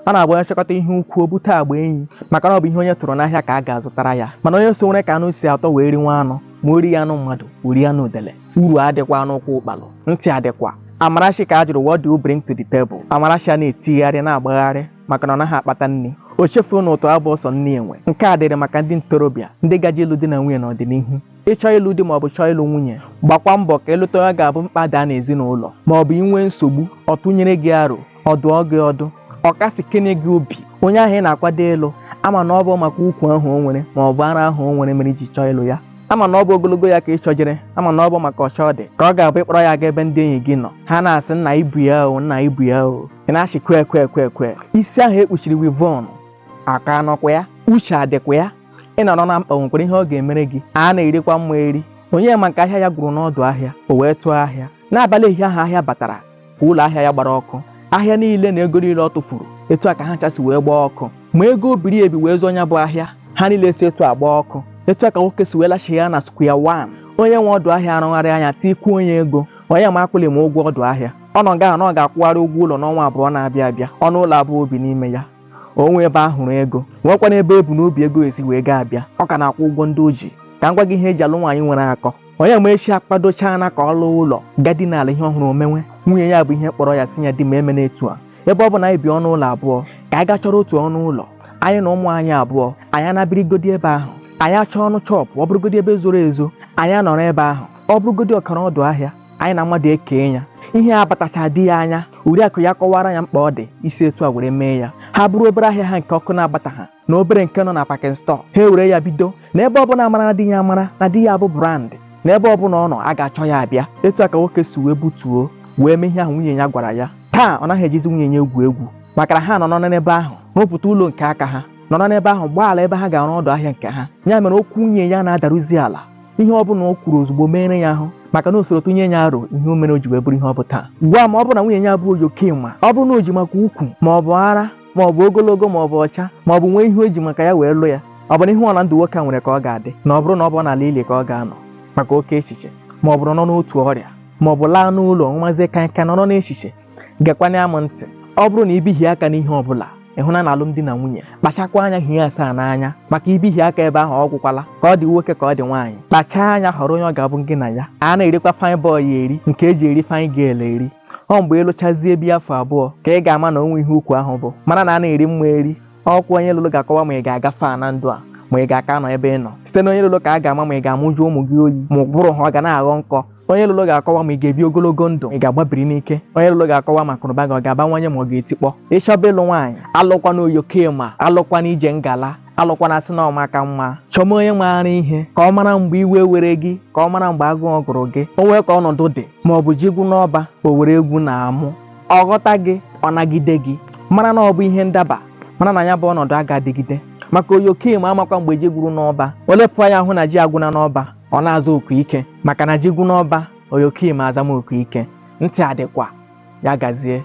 ọ na-abụ onye chọkọta ihe ukwu o bute agba enyi maka na ọ bụ ihe onye tụrụ n'ahịa ka a ga-azụtara ya mana onye sowere ka anụ si atọ wee riwe anụ ma o righị anụ mmadụ o rie anụ udele uru adịkwa n'ụkwụ ụkpalụ ntị adịkwa Amarachi ka a jụrụ what do you bring to the table Amarachi a na-etigharị na-agbagharị maka na ọ naghị akpata nri o chefuru na ụtọ abụ ọsọ nne enwe nke a dịrị maka ndị ntorobịa ndị gaje ịlụ di na nwunye n'ọdịnihu ị chọọ ịlụ di ma ọ bụ chọọ ịlụ nwunye gbakwa mbọ ka ị lụta onye ga-abụ mkpa daa n'ezinụlọ ma ọ bụ i nwee nsogbu ọ tụnyere gị aro ọ dụọ gị ọdụ ọ kasikene gị obi onye ahụ ị na-akwado ịlụ ama na ọ bụ maka ukwu ahụ o nwere ma ọ bụ ara ahụ o nwere mere i ji chọọ ịlụ ya ama na ọ bụ ogologo ya ka ị chọjere ama na ọ bụ maka ọcha ọ dị ka ọ ga-abụ ị kpọrọ ya aga ebe ndị enyi gị nọ ha na-asị nna i bu ya o nna i bu ya o ị na-achị kwe kwe kwe kwe isi ahụ e kpuchiri weavon akọ anọkwa ya uche adịkwa ya ị nọrọ na mkpa o nwekwara ihe ọ ga-emere gị a na-erikwa mma eri Onyema nke ahịa ya gwụrụ n'ọdụ ahịa o wee tụọ ahịa n'abalị ehihie ahụ ahịa batara kwa ụlọ ahịa ya gbara ọkụ ahịa niile na ego niile ọ tụfuru etu a ka ha cha si wee gbaa ọkụ ma ego o biri ebi wee zụọ ya bụ ahịa ha niile si etu a gbaa ọkụ etu a ka nwoke si wee lachigha ya na square one onye nwe ọdụ ahịa arụgharịa anya tikwuo onye ego Onyema akwụlima ụgwọ ọdụ ahịa ọ nọ nga na ọ ga-akwụgharị ụgwọ ụlọ n'ọnwa abụọ na-abịa abịa ọnụ ụlọ abụọ o bi n'ime ya o nwe ebe a hụrụ ego nwekwanụ ebe e bu n'obi ego si wee ga-abịa ọ ka na-akwụ ụgwọ ndị o ji ka m gwa gị ihe e ji alụ nwaanyị nwere akọ Onyemaechi akpadochaana ka ọ lọọ ụlọ gaa dina ala ihe ọ hụrụ o mewe nwunye ya bụ ihe kpọrọ ya sị ya di m emena etu a ebe ọ bụ na anyị bi ọnụ ụlọ abụọ ka anyị gaa chọrọ otu ọnụ ụlọ anyị na ụmụ anyị abụọ anyị ana birigodi ebe ahụ anyị achọọ ọnụ shop ọ bụrụgodi ebe zoro ezo anyị anọrọ ebe ahụ ọ bụrụgodi ọkara ọdụ ahịa anyị na mmadụ ekee ya ihe a abatacha di ya anya oriakụ ya kọwara ya mkpa ọ dị isi etu a were mee ya ha buru obere ahịa ha nke ọkụ na-agbataha na obere nke nọ na packing store ha ewere ya bido na ebe ọ bụ na a maara na di ya a maara na di ya bụ brand na ebe ọ bụla ọ nọ a ga-achọ ya abịa etu a ka nwoke si wee butuo wee mee ihe ahụ nwunye ya gwara ya taa ọ naghị ejizi nwunye ya egwu egwu maka na ha nọ n'ebe ahụ rụpụta ụlọ nke aka ha nọrọ n'ebe ahụ gbaa ala ebe ha ga-arụ ọdụ ahịa nke ha ya mere okwu nwunye ya na-adaruzi ala ihe ọ bụla o kwuru ozugbo meere ya ahụ maka na o soro tụnyere ya aro ihe o mere o ji wee bụrụ ihe ọ bụ taa gwa m ma ọ bụ na nwunye ya bụ oyoke ma ọ bụ na o ji maka ukwu ma ọ bụ ara ma ọ bụ ogologo ma ọ bụ ọcha ma ọ bụ nwee ihe o ji maka ya wee lụ ya ọ bụ na ihe ọla ndụ nwoke a nwere ka ọ ga-adị na ọ bụrụ na ọ bụ n'ala ili ka ọ ga-anọ maka oke echiche ma ọ bụrụ nọ n'otu ọrịa ma ọ bụ laa n'ụlọ ṅụwazie kaikai nọrọ n'echiche gekwana ya m ntị ọ bụrụ na i bihie aka n'ihe ọ bụla ị hụna na alụmdi na nwunye kpachakwa anya hie asaa n'anya maka i bihie aka ebe ahụ ọ gwụkwala ka ọ dị nwoke ka ọ dị nwaanyị kpachaa anya họrọ onye ọ ga-abụ gị na ya a na-erikwa fine boy eri nke e ji eri fine girl eri ọ mgbe ị lụchazie bi afọ abụọ ka ị ga-ama na o nwe ihe ukwu ahụ bụ mana na a na-eri mma eri ọ kwa onye ị lụrụ ga-akọwa ma ị ga-aga far na ndụ a ma ị ga-aka nọ ebe ị nọ site na onye ị lụrụ ka a ga-ama ma ị ga-amụju ụmụ gị oyi ma ụbụrụ ha ọ ga na-aghọ nkọ onye ị lụrụ ga-akọwa ma ị ga-ebi ogologo ndụ ị ga-agbabiri n'ike onye ị lụrụ ga-akọwa ma akụnụba gị ọ ga-abawanye ma ọ ga-etikpọ ị chọba ịlụ nwaanyị alụkwana oyokim alụkwana ije ngala alụkwana sị na ọ maka mma chọma onye maara ihe ka ọ mara mgbe iwe were gị ka ọ mara mgbe agụụ gụrụ gị o nwee ka ọnọdụ dị ma ọ bụ ji gwụ n'ọba o were egwu na amụ ọ ghọta gị ọ nagide gị mara na ọ bụ ihe ndaba mara na ya bụ ọnọdụ a ga-adịgide maka oyokim amakwa mgbe ji gwụrụ n'ọba o lepụ anya hụ na ji agwụna n'ọba ọ na-aza oku ike maka na ji gwụ n'ọba oyokim azama oku ike ntị adịkwa ya gazie